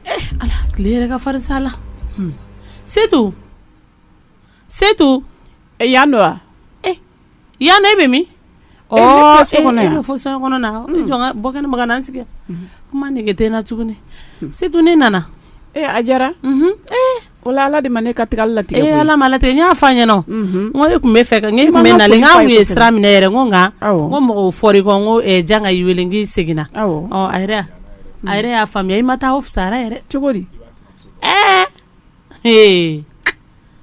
Eh Ala tile yɛrɛ ka farin sa la. Hun Setu Setu e yan don wa? E yan don e bɛ min? Ɔɔ so kɔnɔ yan. E bɛ fɔ so kɔnɔna wa? Jɔ n ka bɔ kɛnɛma ka na n sigi yan. Kuma nege tɛ n na tuguni. Setu ne nana. Ee a diyara. Unhun ee O la ala de ma ne ka tagali latigɛ koyi, ee ala m'a latigɛ n y'a fɔ a ɲɛna o, unhun, n ko e tun bɛ fɛ ka n tun bɛ nalen n k'a tun ye sira minɛ yɛrɛ n ko nka n ko mɔgɔw fɔra i kɔ n ko jɔ an ka i wele n k'i seginna ɔ a yɛrɛ a yɛrɛ y'a faamuya i ma taa o fisayara yɛrɛ cogo di ɛɛ ee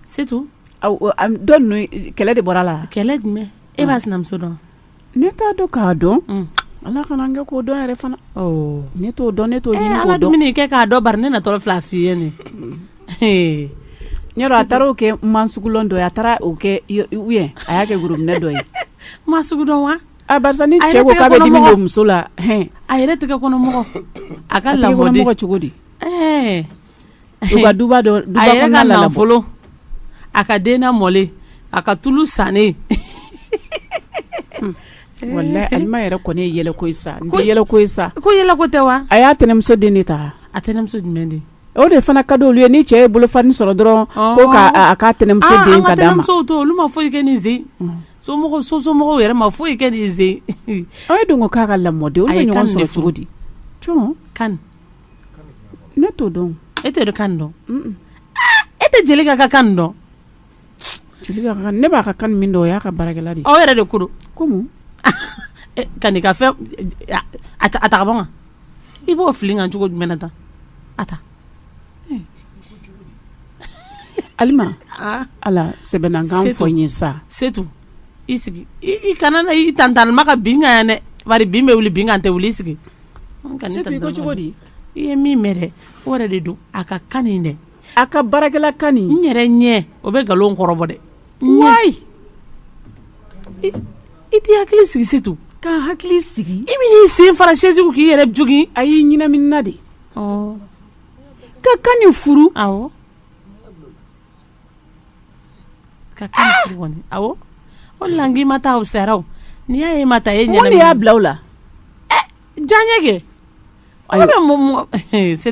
c'est tout dɔ ninnu kɛlɛ de bɔra a la wa, kɛlɛ jumɛn e b'a sinamuso dɔn wa ne t'a dɔn k'a dɔn ala kana n kɛ k'o dɔn yɛrɛ fana ne t'o dɔn ne t'o ala dumuni kɛ k'a dɔn bari ne na tɔɔrɔ fila f' i ye nin ne a taara' kɛ man sugulɔn dɔ a taara o kɛ u ye a y'a kɛ gminɛ dɔ ye ma sugu dɔn wa a ni cɛ ko bɛ di muso la a yɛrɛ tɛgɛkɔnɔmɔgɔ a ka la cogo di a ka den mɔlen a ka tulu san yɛrɛ kɔni yɛlɛ sa sa ko yɛlɛko tɛ wa a y'a tɛnɛnmuso den de ta a tɛnɛnmuso jumɛn de o de fana ka di olu ye ni cɛ ye bolofɛn sɔrɔ dɔrɔn ko k'a ka tɛnɛnmuso ah, den ka d'a ma to olu ma foyi kɛ nin zen mm. so somɔgɔw yɛrɛ ma foyi kɛ nin zen aw ye don ko k'a ka lamɔden ɲɔgɔn sɔrɔ cogo di kan Ne t'o dɔn e tɛ kan dɔn e tɛ jelika ka kan dɔn ne b'a ka kan min dɔn o y'a ka baarakɛla de aw yɛrɛ de ko kɔmi ka ka fɛn a taga ma i b'o fili n kan cogo jumɛn ta a taa ala sɛbɛnkan fɔ n ye sa setu i sigi i kana i tan tanma ka bin n kan yan dɛ bari bin bɛ wuli bin kan tɛ wuli i sigi cogo di i ye min mɛn o yɛrɛ de don a k'a kanin dɛ a ka baarakɛla kanin n yɛrɛ ɲɛ o bɛ nkalon kɔrɔbɔ dɛ i tɛ hakili sigi setu k'i hakili sigi i b'i sen fara sɛsiw k'i yɛrɛ jogin a y'i ɲɛnaminɛ de ka kan nin furu Ka o la n k'i ma taa o saraw n'i y'a ye ma ta e ɲɛ y'a bila la diyaɲɛkɛ se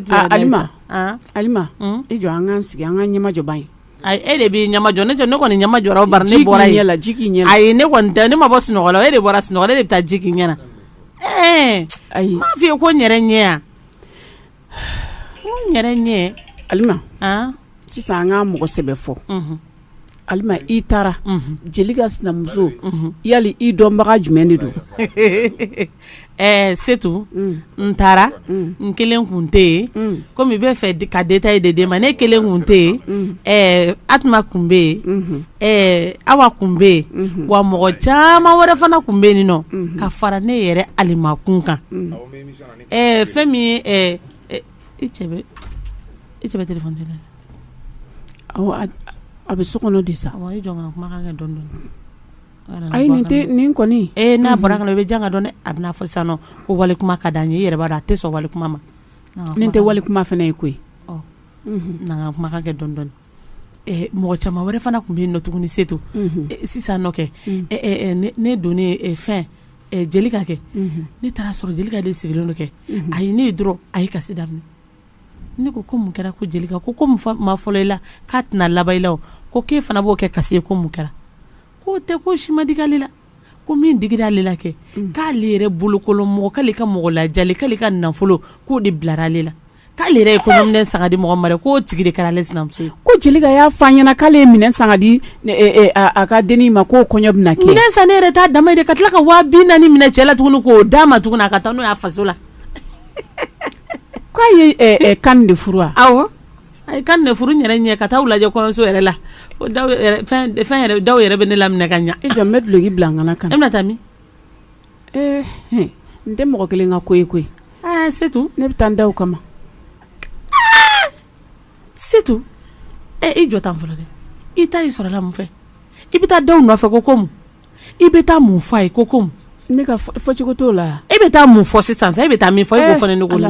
alima e jɔ an ka sigi an ka ɲamamajɔba ye e de bɛ ɲamamajɔ ne ne kɔni ɲama jɔ bara ne bɔra ɲɛ la ji ɲɛ a ye ne kɔni da ne ma bɔ sunɔgɔ la e de bɔra sunɔgɔ de bɛ taa ji ɲɛ na ɛɛ ayi n m'a fɔ i ye ko n yɛrɛ ɲɛ yan yɛrɛ ɲɛ alima sisan an ka mɔgɔ sɛbɛ fɔ alima i taara Jelika sinamuso yali i dɔnbaga jumɛn de don ɛɛ setu n taara n kelen kun tɛ yen komi i bɛ fɛ ka détail de dɔn ma ne kelen kun tɛ yen ɛɛ Fatuma kun bɛ yen ɛɛ Awa kun bɛ yen wa mɔgɔ caman wɛrɛ fana tun bɛ yen nin nɔ ka fara ne yɛrɛ alima kun kan Ɛɛ fɛn min ye ɛɛ i cɛ bɛ i cɛ bɛ téléphone di ne ma awɔ a bɛ so kɔnɔ de sa awɔ i jɔ n ka kumakan kɛ dɔni dɔni ayi nin tɛ nin kɔni ee n'a bɔra a kalama i bɛ janga dɔn dɛ a bɛna fɔ sisan nɔ ko wali kuma ka di an ye i yɛrɛ b'a dɔn a tɛ sɔn wali kuma ma nin tɛ wali kuma fana ye koyi ɔ na n ka kumakan kɛ dɔni dɔni mɔgɔ caman wɛrɛ fana tun bɛ yen nɔ tuguni Setu, unhun, sisan nɔ kɛ, unhun, ɛ ɛ ɛ ne donnen fɛn Jelika kɛ, unhun, ne taar'a sɔrɔ Jelika de sigilen don kɛ, unhun, a ye ne ye dɔrɔn a ye kasi daminɛ, ne ko ko mun kɛra ko Jelika ko ko min ma fɔlɔ i la k'a tɛna laban i la ko k'e fana b'o kɛ kasi ye ko mun kɛra k'o tɛ ko si ma digi ale la ko min digira ale la kɛ k'ale yɛrɛ bolokɔrɔmɔgɔ k'ale ka mɔgɔ lajali k'ale ka nafolo k'o de bilara ale la K'ale yɛrɛ ye kɔɲɔminen de san ka di mɔgɔ min ma dɛ, k'o tigi de kɛra ale sinamuso ye, ko Jelika y'a fɔ a ɲɛna k'ale ye minɛn san ka di a ka dennin ma k'o kɔɲɔ bɛna kɛ, minɛn san ne yɛrɛ t'a dama ye dɛ, ka tila ka 4000000 minɛ cɛ la tuguni k'o d'a ma tuguni a ka taa n'o ye a faso la, k'a ye Kani de furu wa, awɔ, a ye Kani de furu n yɛrɛ ɲɛ ka Daw lajɛ kɔɲɔso yɛrɛ la, ko Daw yɛrɛ bɛ ne laminɛ ka ɲɛ, i jɔ n bɛ duloki bila n kanna ka na, e bɛna taa min Ee nin tɛ mɔgɔ kelen ka ko ye koyi aa Setu ne bɛ taa Daw kama Setu ɛ i jɔ tan fɔlɔ dɛ i ta y'i sɔrɔla mun fɛ i bɛ taa Daw nɔfɛ ko ko mun i bɛ taa mun fɔ a ye ko ko mun e ka fɔcogo la e bɛ taa mun fɔ sisan e bɛ taa min fɔ i k'o fɔ ne la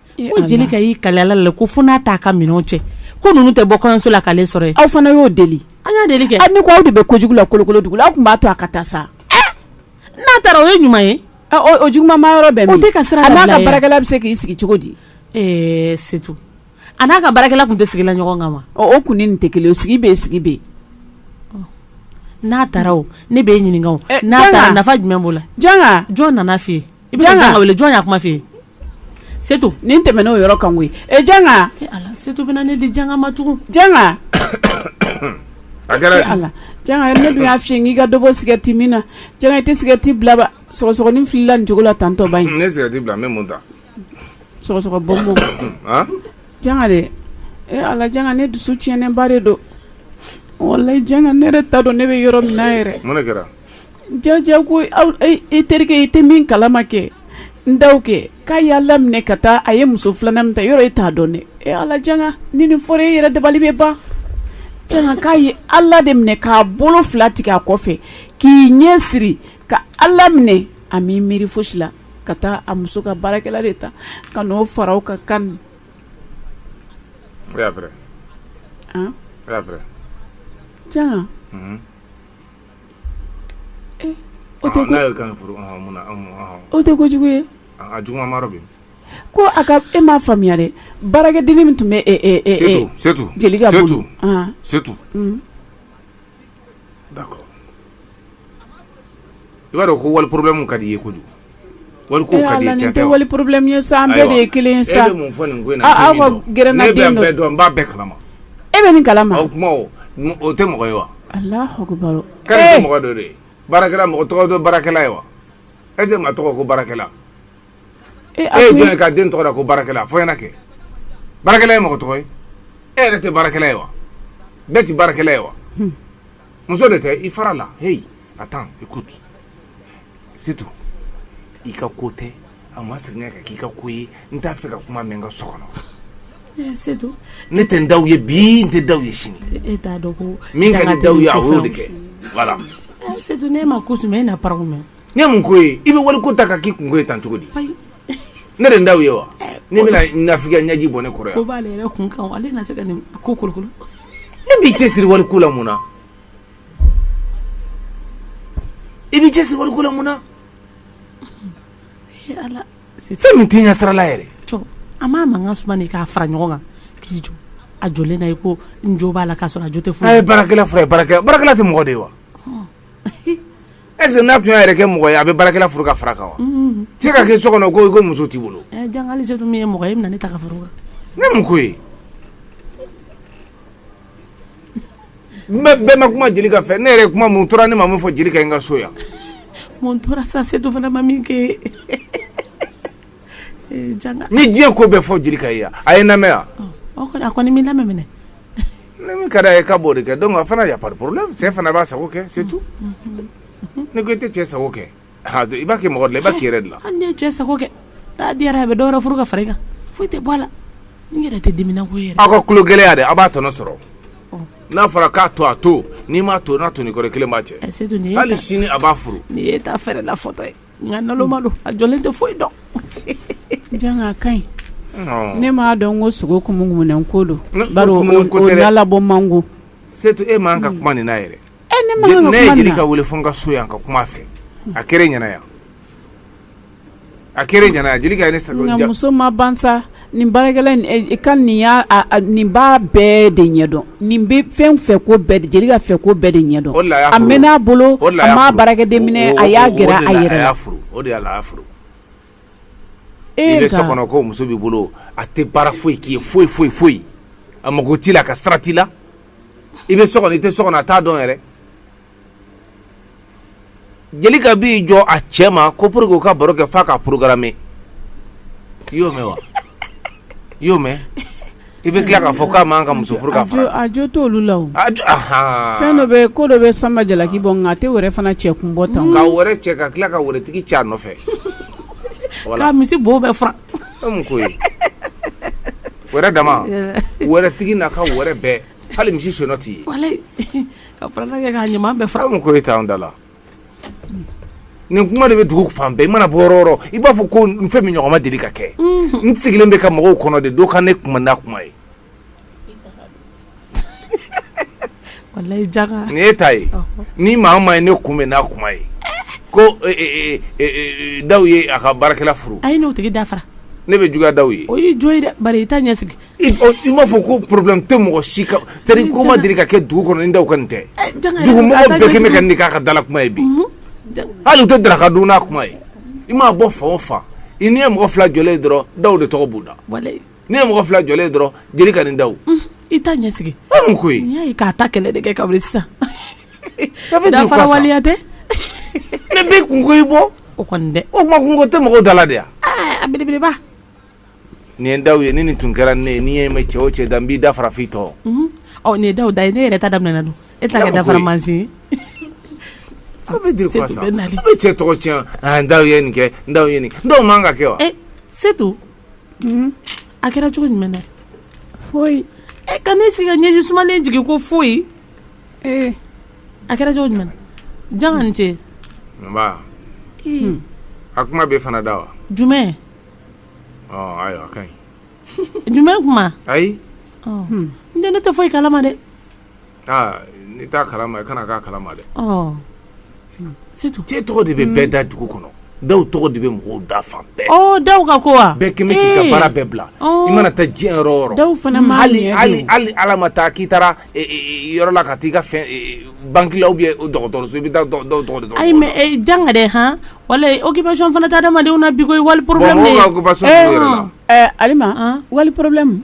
Ko Jelika y'i kali Ala la ko f'a t'a ka minɛn cɛ ko ninnu tɛ bɔ kɔɲɔso la k'ale sɔrɔ yen aw fana y'o deli an y'a deli kɛ aw ni ko aw de bɛ ko kojugu la kolokolo dugu aw tun b'a to a ka taa sa n'a taara o ye ɲuman ye o juguman yɔrɔ bɛɛ tɛ ka sira n'a ka bara bɛ se k'i sigi cogo di ɛɛ cɛ n'a ka bara tun tɛ sigila ɲɔgɔn kan ma o kun nin tɛ kelen sigi bɛ sigi bɛ n'a taara o ne bɛ ɲininka n'a taara nafa jumɛn b'o la jɔn jɔn nana fɛ yen i bɛ jɔn kuma fɛ yen Setu n tɛmɛna o yɔrɔ kan koyi e janga Setu bɛna ne di janga ma tugun janga a kɛra ne y'a f'i ye k'i ka dɔ bɔ sigarɛti min na janga i tɛ sigarɛti bila ba sɔgɔsɔgɔnin filɛ i la nin cogo la tan tɔ ba in ne sigarɛti bila n bɛ mun ta bɔnbɔn janga dɛ e ala janga ne dusu tiɲɛnenba de don wala janga ne yɛrɛ t'a dɔn ne bɛ yɔrɔ min na yɛrɛ kɛra Jajɛ ko e terikɛ i tɛ min kalama kɛ Ndaw kɛ k'a y'ala minɛ ka taa a ye muso filanan min ta yɔrɔ e t'a dɔn dɛ e ala Janga ni nin fɔra e yɛrɛ dabali bɛ ban Janga k'a ye ala de minɛ k'a bolo fila tigɛ a kɔfɛ k'i ɲɛ siri ka ala minɛ a ma miiri fosi la ka taa a muso ka baarakɛla de ta ka n'o fara o kan O tɛ ko jugu ye ko a ka e ma faamuya dɛ baarakɛden min tun bɛ Jelika i b'a dɔn ko wali problème ka di i ye kojugu Wali ko ka di cɛ tɛ wali problème ye sa an bɛɛ de ye kelen ye sa ayiwa e bɛ mun fɔ nin ko in na aw ka gɛrɛ n na den dɔ ne bɛ yan bɛɛ dɔn n b'a bɛɛ kalama e bɛ nin kalama o tuma o o tɛ mɔgɔ ye wa Alahu akibaru k'ale tɛ mɔgɔ dɔ de ye baarakɛla mɔgɔ tɔgɔ dɔn baarakɛla ye wa est ce que maa tɔgɔ ko baarakɛla e a e ye kun jɔn ye k'a den tɔgɔ da ko baarakɛla fɔ n ɲɛna kɛ baarakɛla ye mɔgɔ tɔgɔ ye e yɛrɛ tɛ baarakɛla ye wa bɛɛ tɛ baarakɛla ye wa muso de tɛ i fara la heyi attends écoute setu i ka ko tɛ a ma segin ka k'i ka ko ye n t'a fɛ ka kuma mɛn n ka so kɔnɔ eh, setu ne tɛ Ndaw ye bi n tɛ Ndaw ye sini e t'a dɔn ko min ka di Ndaw ye a y'o de kɛ voilà eh, setu ne ma ko sumɛ e na paraw mɛn ne mun ko ye i bɛ wali ko ta ka k'i kunko ye tan cogo di ne de Ndaw ye wa eh, e bɛna nafigiya ɲɛji bɔ ne kɔrɔ yan ko b'ale yɛrɛ kun kan ale na se ka nin ko kolokolo e b'i cɛsiri wali ko la mun na i b'i cɛ siri waliko la mun na Ala fɛn min t'i ɲɛsira la yɛrɛ a m'a mankan suma de k'a fara ɲɔgɔn kan k'i jɔ a jɔlen na i ko n jo b'a la k'a sɔrɔ a jo tɛ foyi la a ye baarakɛla furu ye baarakɛla baarakɛla tɛ mɔgɔ de ye wa est ce que n'a tun y'a yɛrɛ kɛ mɔgɔ ye a bɛ baarakɛla furu ka fara a kan wa cɛ ka kɛ so kɔnɔ i ko muso t'i bolo Janga Alizeri dun min ye mɔgɔ ye e bɛna ne ta ka fara o kan ne mun ko ye mɛ bɛɛ ma kuma Jelika fɛ ne yɛrɛ kuma mun tora ne ma min fɔ Jelika ye n ka so yan mun tora sa Setu fana ma min kɛ eh, n ye diɲɛ ko bɛɛ fɔ Jelika ye yan a ye n lamɛn yan oh, oh, a kɔni m'i lamɛn minɛ ne min ka d'a ye k'a b'o de kɛ donc a fana y a pas de problème cɛ fana b'a sago kɛ c'est tout mm, mm, mm. ne ko i tɛ cɛ sago kɛ Ha i b'a kɛ mɔgɔ la i b'a k'i yɛrɛ de la, hali n'i ye cɛ sago kɛ, n'a diyara a ye a bɛ dɔwɛrɛ furu ka fara i kan foyi tɛ bɔ a la, n yɛrɛ tɛ diminɛ koyi yɛrɛ, aw ka tulo gɛlɛya dɛ aw b'a tɔnɔ sɔrɔ, ɔ, n'a fɔra k'a to a to, n'i m'a to n'a tonna i kɔrɔ i kelen b'a cɛ, ɛ Setu nin y'e ta, hali sini a b'a furu, nin y'e ta fɛrɛlafɔtɔ ye, nka naloma don a jɔlen tɛ foyi dɔn, Janga a ka ɲi, ɔ, ne m'a dɔn ko sogo kumukumunen ko don, bari o dalabɔ man go, Setu e man kan ka kuma nin na yɛrɛ ne ye jelika weele fo n ka so yan ka kuma a fɛ a kɛra n ɲɛna yan a kɛra n ɲɛna ye ne sa muso ma ban sa nin baarakɛla ka nin y'a nin ba bɛɛ de ɲɛdɔn nin bɛ fɛn fɛ ko bɛɛ jelika fɛ ko bɛɛ de ɲɛdɔn a mɛnna a bolo a ma baarakɛ daminɛ a y'a gɛrɛ a yɛrɛ la a y'a furu e bɛ so kɔnɔ ko muso b'i bolo a tɛ baara foyi k'i ye foyi foyi foyi a mako t'i la ka sara t'i la i bɛ so kɔnɔ i tɛ so kɔnɔ a t'a dɔn yɛrɛ jelika b'i jɔ a cɛ ma ko pour que u ka baro kɛ f'a ka programme i y'o mɛn wa i y'o mɛn i bɛ tila k'a fɔ k'a man ka muso furu ka fara a jo t'olu la o a jo ahan fɛn dɔ bɛ ko dɔ bɛ sanba jalaki bɔ nka a tɛ wɛrɛ fana cɛ kun bɔ tan ka wɛrɛ cɛ ka tila ka wɛrɛtigi cɛ a nɔfɛ k'a misi bo bɛɛ furan ko ye wɛrɛ dama wɛrɛtigi na ka wɛrɛ bɛɛ hali misi sennɔ tɛ yen ka furan kɛ ka ɲaman bɛɛ furan ko e t'an da la nin kuma de bɛ dugu fan bɛɛ i mana bɔ yɔrɔ o yɔrɔ i b'a fɔ ko n fɛn min ɲɔgɔn ma deli ka kɛ n sigilen bɛ ka mɔgɔw kɔnɔ de dɔ ka ne kunbɛn n'a kuma ye taa yen ni maa ma ne kunbɛn n'a kuma ye ko daw ye a ka baarakɛla furu a ye n'o tigi dafa ne bɛ juguya daw ye o ye jɔn bari i taa ɲɛ sigi i n'a fɔ ko problème tɛ mɔgɔ si kan seri ko ma deli ka kɛ dugu kɔnɔ ni daw ka nin tɛ dugu mɔgɔ bɛɛ kɛmɛ ka nin k'a ka dala kuma ye bi hali u tɛ daraka dun n'a kuma ye i maa bɔ fan o fan n'i ye mɔgɔ fila jɔlen dɔrɔn daw de tɔgɔ b'u da n'i ye mɔgɔ fila jɔlen dɔrɔn jelika ni daw i ta ɲɛ sigi ko n y'a ye k'a ta kɛlɛ de kɛ ka sisan dafara waleya tɛ ne bɛ kun ko i bɔ o kɔni dɛ o tuma kunko tɛ mɔgɔw da la de yan a belebeleba nin ye n daw ye ni nin tun kɛra ne ye n'i ye mɛ cɛ o cɛ da n b'i da farafin tɔ ɔ nin ye daw da ye ne yɛrɛ ta daminɛna don e t'a kɛ dafara mansin a bɛ diri kɔ sa a bɛ cɛ tɔgɔ tiɲɛ ni daw ye nin kɛ ni daw ye nin kɛ daw man kan k'a kɛ wa setu a kɛra cogo jumɛn na foyi e ka n'i sigi ka ɲɛji sumalen jigin ko foyi ee a kɛra cogo jumɛn janga ni ce nba a kuma b'i fana da wa jumɛn ɔ ayiwa a ka ɲi jumɛn kuma ayi n tɛ ne tɛ foyi kalama dɛ Aa n'i t'a kalama i kana k'a kalama dɛ se cɛ tɔgɔ de bɛ bɛɛ da dugu kɔnɔ daw tɔgɔ de bɛ mɔgɔw da fan bɛɛ daw ka ko bɛɛ kɛmɛ k'i ka baara bɛɛ bila i mana taa diɲɛ yɔrɔ o yɔrɔ hali ala ma taa k'i taara yɔrɔ la ka taa i ka banki la u bɛ dɔgɔtɔrɔso i bɛ daw tɔgɔ de mɛn danga de hɔn wala occupation fana tɛ adamadenw na bi ko wali problème wali problème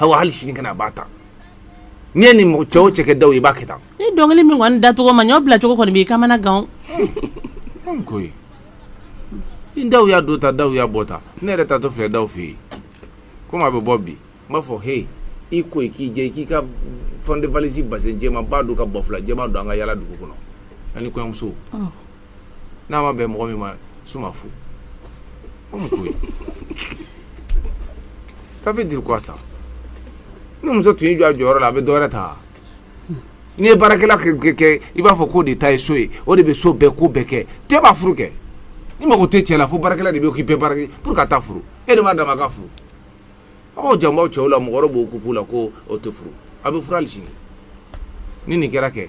Awa hali sini kana ba ta n'i ye nin cɛ o cɛ kɛ daw ye i b'a kɛ tan ni dɔnkili min kɔni dacogo ma ɲɔ bilacogo kɔni b'i kamanagan ko ye n daw y'a don tan daw y'a bɔ tan ne yɛrɛ taatɔ filɛ daw fɛ yen komi a bɛ bɔ bi n b'a fɔ he i ko ye k'i jɛ k'i ka fond de valise bazin jɛmanba don ka banfula jɛman don an ka yala dugu kɔnɔ ani kɔɲɔmuso n'a ma bɛn mɔgɔ min ma su ma fo o mun ko ye ça veut dire quoi ça ni muso tun y'i jɔ a jɔyɔrɔ la a bɛ dɔ wɛrɛ ta n'i ye baarakɛla kɛ kɛ i b'a fɔ k'o de ta ye so ye o de bɛ so bɛɛ ko bɛɛ kɛ cɛ b'a furu kɛ n'i mago tɛ cɛ la fo baarakɛla de bɛ k'i bɛɛ baara kɛ pour ka taa furu e de b'a dɛmɛ ka furu a b'aw janfa aw cɛw la mɔgɔ wɛrɛ b'o kupu la ko o tɛ furu a bɛ furu hali sini ni nin kɛra kɛ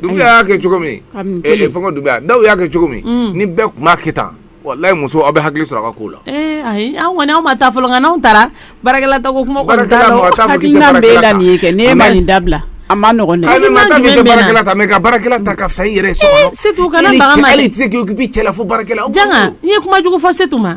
Dugu y'a kɛ cogo min fanga dugu dɔw y'a kɛ cogo min ni bɛɛ tun b'a kɛ tan walayi muso aw bɛ hakili sɔrɔ ka k'o la ayi an kɔni anw ma taa fɔlɔkan taara baara la da ta ka sa i yɛrɛ cɛla fo bara i ye kuma jugu fɔ Setu ma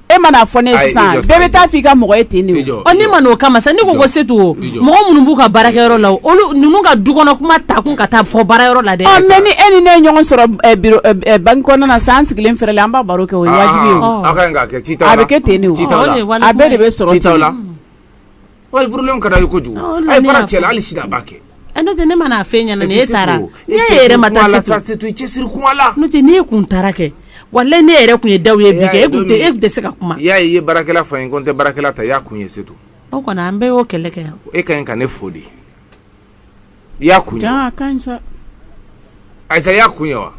e mana a fɔ ne sisan e bɛ taa fɔ i ka mɔgɔ ye ten ne ma n'o kama sa ne ko ko Setu mɔgɔ minnu b'u ka baarakɛyɔrɔ la olu ninnu ka du kɔnɔ kuma t'a kun ka taa fɔ baarayɔrɔ la dɛ mais ni e ni ne ye ɲɔgɔn sɔrɔ banki kɔnɔna na sa an sigilen fɛrɛ la an b'a baro kɛ o wajibi a bɛ kɛ ten a bɛɛ de bɛ sɔrɔ la Problème ka ye kojugu a ye fara cɛ hali sini a b'a kɛ n'o tɛ ne mana fɔ i ɲɛna ne e taara e yɛrɛ ma taa la Setu i cɛsiri kuma la n'o tɛ ne tun taara kɛ wa ne yɛrɛ tun ye da ye bi e tun e tɛ se ka kuma y'a ye bara fa ye ko n tɛ baarakɛla ta y'a kun ye Setu o kɔni an bɛɛ y'o kɛlɛ kɛ yan e ka ɲi ka ne fo dɛ i y'a kun Ayisa y'a kun ye wa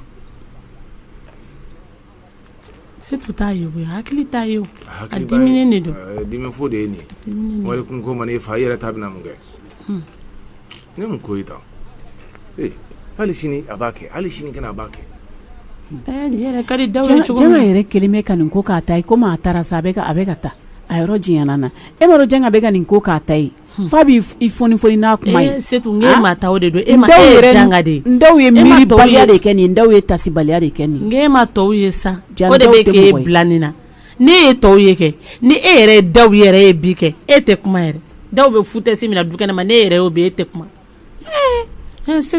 Setu ta ye hakili ta ye a dumuni de don dimi fɔ de ye nin ye wari kun ko man e fa e yɛrɛ ta bɛna mun kɛ ne mun ko e ta ee hali sini a b'a kɛ hali sini a b'a kɛ yɛrɛ kelen bɛ ka nin ko k'a ta ye komi a taara sa a a bɛ ka taa a yɔrɔ diɲɛɲɛna na e yɔrɔ jan ka bɛ ka nin ko k'a ta ye Fa b'i i f fɔ i n'a kuma ye Setu e ma taa o de don e ma yɛrɛga de n dɔw ye miiribaliya de kɛ nin dɔw ye taasibaliya de kɛ nin e ma tɔw ye sa o de bɛ ka e bila nin na ni e ye tɔw ye kɛ ni e yɛrɛ dɔw yɛrɛ ye bi kɛ e tɛ kuma yɛrɛ dɔw bɛ foutaise min na du kɛnɛ ma ne yɛrɛ o bɛ e tɛ kuma Ee se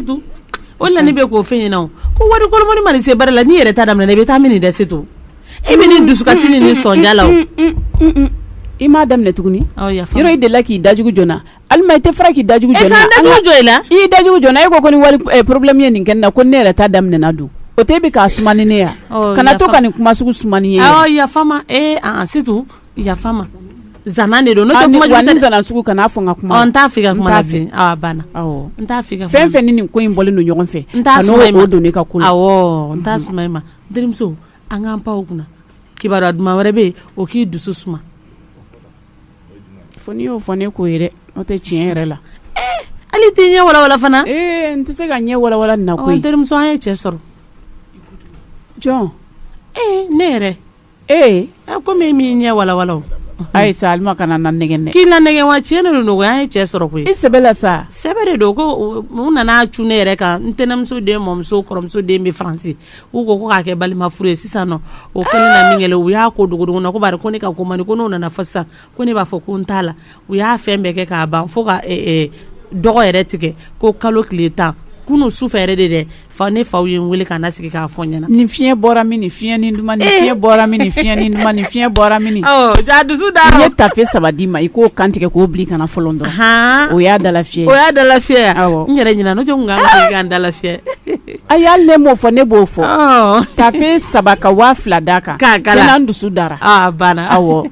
o la ne bɛ k'o fɔ i ɲɛna ko wari kolo kɔni ma se baara la n'i yɛrɛ ta daminɛ i bɛ taa min dɛ Setu e bɛ ne dusukasi ni nin sɔnja la i m'a daminɛ tuguni i de la k'i da jugu jɔ hali i tɛ fara k'i da jugu jɔ i la i da jugu jɔna e ko ko problème ye nin kɛnɛ na ko ne yɛrɛ ta daminɛna don o tɛ e bɛ k'a suman ne yan kana to ka nin kuma sugu sumani ye yafa se yafa n ma zan de don kana fɔ ka kuma n t'a fɛ kuma banna n t'a fɛn fɛn ni nin ko in bɔ don ɲɔgɔn fɛ n n don ne ka ko n t'a suma e ma terimuso an k'an pan o kunna kibaru duman wɛrɛ bɛ yen o k'i dusu suma fo n'i y'o fɔ ne ko yɛrɛ n'o tɛ tiɲɛ yɛrɛ la eh, hali tɛ ɲɛ walawala fana ee n tɛ se ka ɲɛ walawala ko terimuso an ye cɛ sɔrɔ jɔn ee eh, ne yɛrɛ Ee a ko min b'i ɲɛ walawala ayi sa Alima kana n lanɛgɛn k'i lanɛgɛn wa cɛ ne dun n ko an ye cɛ sɔrɔ koyi i sɛbɛ la sa sɛbɛ de don ko u nana cun ne yɛrɛ kan n tɛnɛmuso den mɔmuso kɔrɔmuso den bɛ faransi u ko ko k'a kɛ balima furu ye sisan o kɔni na min kɛ u y'a ko dogodogo n na ko bari ko ne ka ko man ɲi ko n'o nana fɔ sisan ko ne b'a fɔ ko n t'a la u y'a fɛn bɛɛ kɛ k'a ban fo ka dɔgɔ yɛrɛ tigɛ ko kalo tile tan kunun su fɛ yɛrɛ de ne faw ye n weele ka n sigi k'a fɔ n ɲɛ na ni fiɲɛ bɔra min ni fiɲɛ ni duman ni eh! fiɲɛ bɔra min ni fiɲɛ ni duman ni fiɲɛ bɔra min a dusu da n ye tafe saba d'i ma i k'o kantigɛ k'o bili kana fɔlɔ dɔn o y'a dala fiyɛ o y'a dala fiyɛ awɔ n yɛrɛ ɲinɛna n'o tɛ i tun ka kan ka n dala fiyɛ ayi hali n'i m'o fɔ ne b'o fɔ tafe saba ka waa fila d'a kan k'a kala n dusu dara a banna awɔ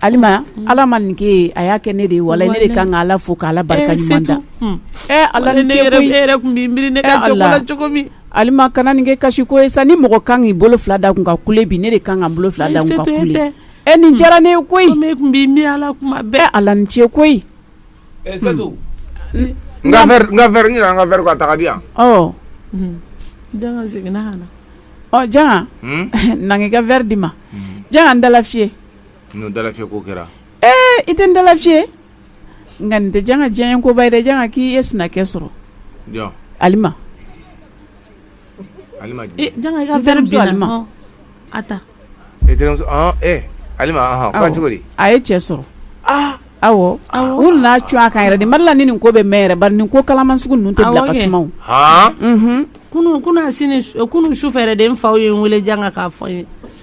ala ma nin kɛ a y'a kɛ ne de ye ne de ka kan ka ala fo k'ala barika da Alima kana nin kɛ kasi ko ye sani mɔgɔ k'i bolo fila da i kun ka kule bi ne de ka kan ka bolo fila da e nin diyara ne ye ko ala ni ce ko n ka ka taga di yan Janka na n k'i ka verre d'i ma Janka n dala fiyɛ N'o dalafiɲɛ ko kɛra ɛɛ i tɛ n dalafiɲɛ nka nin tɛ Janka diyanyekoba ye dɛ Janka k'i ye sinakɛ sɔrɔ jɔn Alima Alima jumɛn ee Janka i ka verre bila Alima ɔɔ a ta i terimuso ɔɔ ee Alima ɔnhɔn k'o bɛ cogo di a ye cɛ sɔrɔ aa awɔ u nana cun a kan yɛrɛ de n ma da a la ni nin ko bɛ mɛn yɛrɛ bari nin ko kalama sugu ninnu tɛ bila ka suma o han unhun kunu kunu a sini su kunu sufɛ yɛrɛ de n faw ye n wele Janka k'a fɔ n ye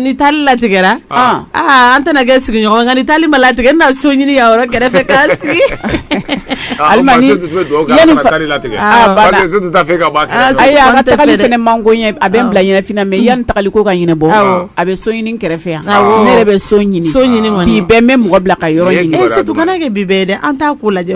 ni taali latigɛra an tɛna kɛ sigiɲɔgɔn ye nka ni taali ma latigɛ n na so ɲini a yɔrɔ kɛrɛfɛ ka sigi Alima a bɛ n bila ɲɛnafin na yan ni taali ko ka ɲɛnabɔ a bɛ so ɲini kɛrɛfɛ yan ne yɛrɛ bɛ so ɲini so ɲini bi bɛɛ n bɛ mɔgɔ bila ka yɔrɔ ɲini kana kɛ bi dɛ an t'a ko lajɛ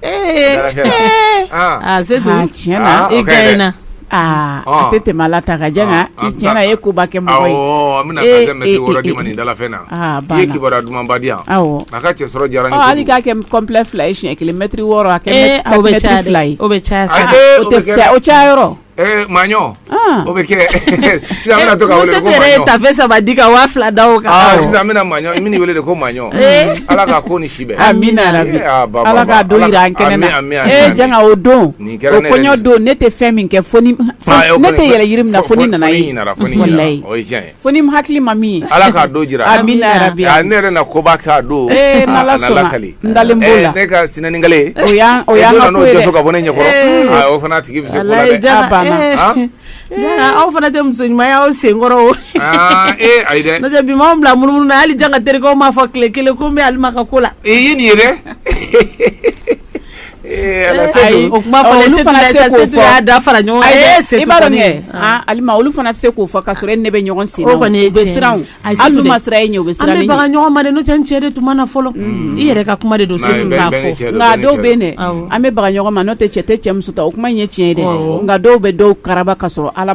Ee aa se tiɲɛ na e ga in na aa a tɛ tɛmɛ ala ta kan Janka i tiɲɛna e koba kɛ mɔgɔ dalafiyɛ na e kibaru dumanba di yan a ka cɛ sɔrɔ diyara hali k'a kɛ kɔnpilɛ fila ye siɲɛ kelen mɛtiri wɔɔrɔ a bɛ fila ye o bɛ caya o caya yɔrɔ Eh, maɲɔ ah. o bɛ kɛ sisan bɛna to ka wele ko maɲɔ yɛrɛ ye taafe saba di ka waa fila da o kan ah sisan bɛna maɲɔ i bɛna wele de ko maɲɔ eh. ala ka ko ni si bɛɛ amina yarabi eh, ah, ala k'a don yira an kɛnɛ na ee janga o don o kɔɲɔ don ne tɛ fɛn min kɛ fo ni ah, ne tɛ yɛlɛ yiri min na fo ni nana ye walayi o ye tiɲɛ ye Fo ni n hakili ma min ye ala k'a don jira amina yarabi ne yɛrɛ na koba k'a don lakali n dalen b'o la ne ka sinanikale o yan o yan ka ko ka bɔ ne ɲɛkɔrɔ o fana tigi bɛ se ko la dɛ ja banna aw fana tɛ muso ɲuman y'aw senkɔrɔ o ee ayi dɛ n'o tɛ bi m'anw bila munumunu na hali jan ka terikɛw m'a fɔ tile kelen ko n bɛ Alima ka ko la ee i ye nin ye dɛ Olu fana se k'o fɔ ka sɔrɔ ne bɛ ɲɔgɔn sen bɛ fɔlɔ i yɛrɛ ka kuma don dɔw bɛ an bɛ baga ɲɔgɔn ma n'o tɛ cɛ tɛ cɛ muso o kuma ye tiɲɛ dɛ nka dɔw bɛ dɔw karaba ka sɔrɔ ala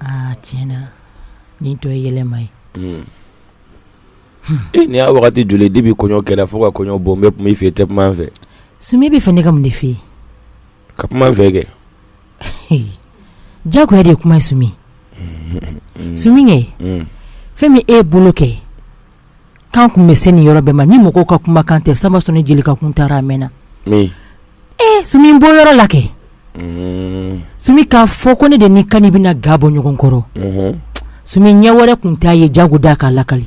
Aa tiɲɛna nin tɔ ye yɛlɛma ye unn hun ee nin y'a wagati joli ye depuis kɔɲɔ kɛra fo ka kɔɲɔ bɔ ne bɛ kuma i fɛ i tɛ kuma n fɛ Sumi e b'a fɛ ne ka mun de f'e ye ka kuma n fɛ kɛ ee diyagoya de ye kuma ye Sumi Sumi kɛ fɛn min ye e bolo kɛ Kan kun bɛ se nin yɔrɔ bɛɛ ma ni mɔgɔw ka kuma kan tɛ sanba sɔnna Jelika tun taara a mɛn na ee sun bɔ yɔrɔ la kɛ sun k'a fɔ ko ne de ni kan bɛna ga bɔ ɲɔgɔn kɔrɔ sun ɲɛ wɛrɛ tun t'a ye jago da k'a lakali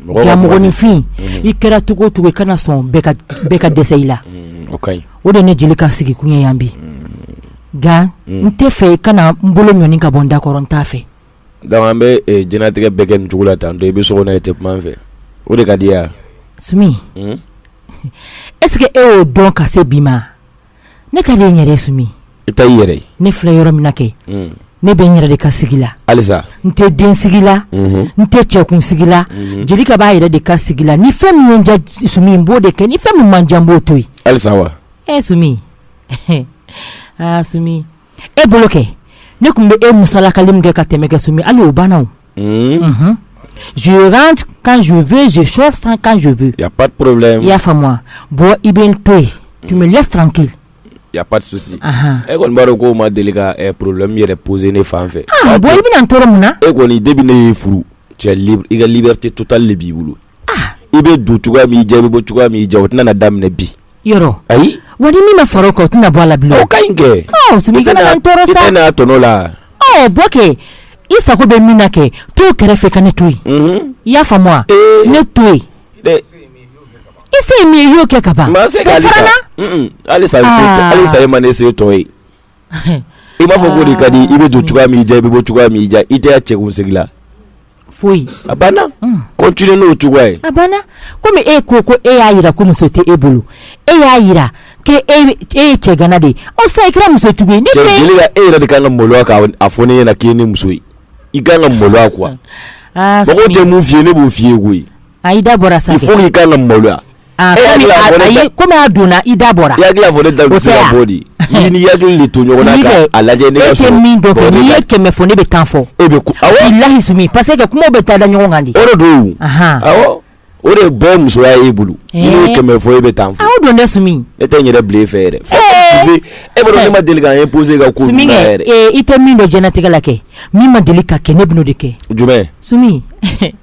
mɔgɔninfin i kɛra cogo o cogo i kana sɔn bɛɛ ka dɛsɛ i la o de ne Jelika sigi kun ye yan bi nka n t'a fɛ i kana n bolo ɲɔni ka bɔ n da kɔrɔ n t'a fɛ Dɔnku an bɛ jinatigɛ bɛɛ kɛ cogo la tan to i bɛ sɔn ka kuma n fɛ o de ka di est-ce que e y'o dɔn ka se bi ma ne ka den yɛrɛ Sumi taa i yɛrɛ ne filɛ yɔrɔ min kɛ ne bɛ n yɛrɛ de ka sigi la hali n tɛ den sigi la n tɛ cɛkun sigi la Jelika b'a yɛrɛ de ka sigi la ni fɛn min min b'o de kɛ ni fɛn min ma n diya n b'o to yen hali wa e su e bolo kɛ ne tun bɛ e musalakali min kɛ ka tɛmɛ kɛ Sumi hali o banna je rentre quand je veux je sors quand je veux y a pas de problème i y'a faamu bon i bɛ n to yen tu me laisses tranquille y a pas de souci e kɔni b'a dɔn k'o ma deli ka eh, problème yɛrɛ poser ne fan fɛ ah bon i bɛna n tɔɔrɔ mun na e kɔni depuis ne y'i furu tu es libre i ka liberté totale de b'i bolo ah i bɛ don cogoya min i diya i bɛ bɔ cogoya min i diya o tɛna na daminɛ bi yɔrɔ ayi wa ni min ma far'o kan o tɛna bɔ a la bilen o ka ɲi kɛ ɔ Sumi i kana na n tɔɔrɔ sa i tɛ na tɔnɔ la ɔ bɔ kɛ i sago bɛ min na kɛ to kɛrɛfɛ ka ne to yen unhun i y'a faamu wa ee ne to yen dɛ i se ye min ye i y'o kɛ ka ban maa se ka o halisa farana un un halisa i se aa halisa e ma ne se tɔ ye I b'a fɔ ko de ka di i bɛ don cogoya min na i bɛ bɔ cogoya min na i tɛ cɛsigi la foyi a banna ko tun n'o cogoya ye a banna kɔmi e ko ko e y'a jira ko muso tɛ e bolo e y'a jira e ye cɛ gana de o sa i kɛra muso tugu e yɛrɛ de ka kan ka maloya a fɔ ne ɲɛna k'i ni muso ye i ka kan ka maloya kuwa tɛ mun f'i ye ne b'o f'i ye koyi a da bɔra sa fo' ka ka maloya Ah, e komi a- a ye- komi a donna i da bɔra yaki fɔ ne da O tɛ se ka yan. bɔ de i ni yaki de to ɲɔgɔn na Sumi ka bɛ- a lajɛ ne e ka tɛ sɔrɔ min dɔn bɔrɛ n'i ye la. kɛmɛ fɔ ne bɛ tan fɔ e bɛ ko awɔ bilahi sumi parce que kumaw bɛ taa da ɲɔgɔn kan de o de don Ahan. awɔ o de bɛɛ ye musoya ye e bolo n'i Eh. ye kɛmɛ fɔ e bɛ tan fɔ aw don dɛ sumi ne tɛ n yɛrɛ bila e fɛ yɛrɛ fo Eh. tufe e b'a dɔn ne ma deli ka n imposer ka ko sugu ninnu na kɛ yɛrɛ ee, i tɛ min dɔn diɲɛnatigɛ la kɛ min ma deli ka kɛ ne bɛn'o de kɛ jumɛn sumi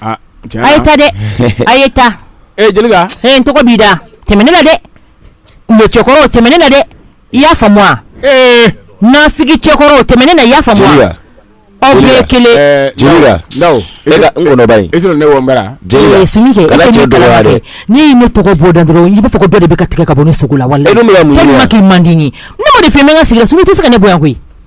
taa dɛ a ye taa e jelikɛ ne tɔgɔ b'i da tɛmɛ ne la dɛ cɛkɔrɔba tɛmɛ ne na dɛ i y'a faamu naafigi cɛkɔrɔba tɛmɛ ne na i y'a faamu aw bɛɛ kelen e ne ye ne tɔgɔ bɔ da dɔrɔn i b'a fɔ dɔ de bɛ ka tigɛ ka bɔ ne sogo la wa k'i madigi ne ma de fɛ ne ka sigi tɛ se ka ne bɔ yan koyi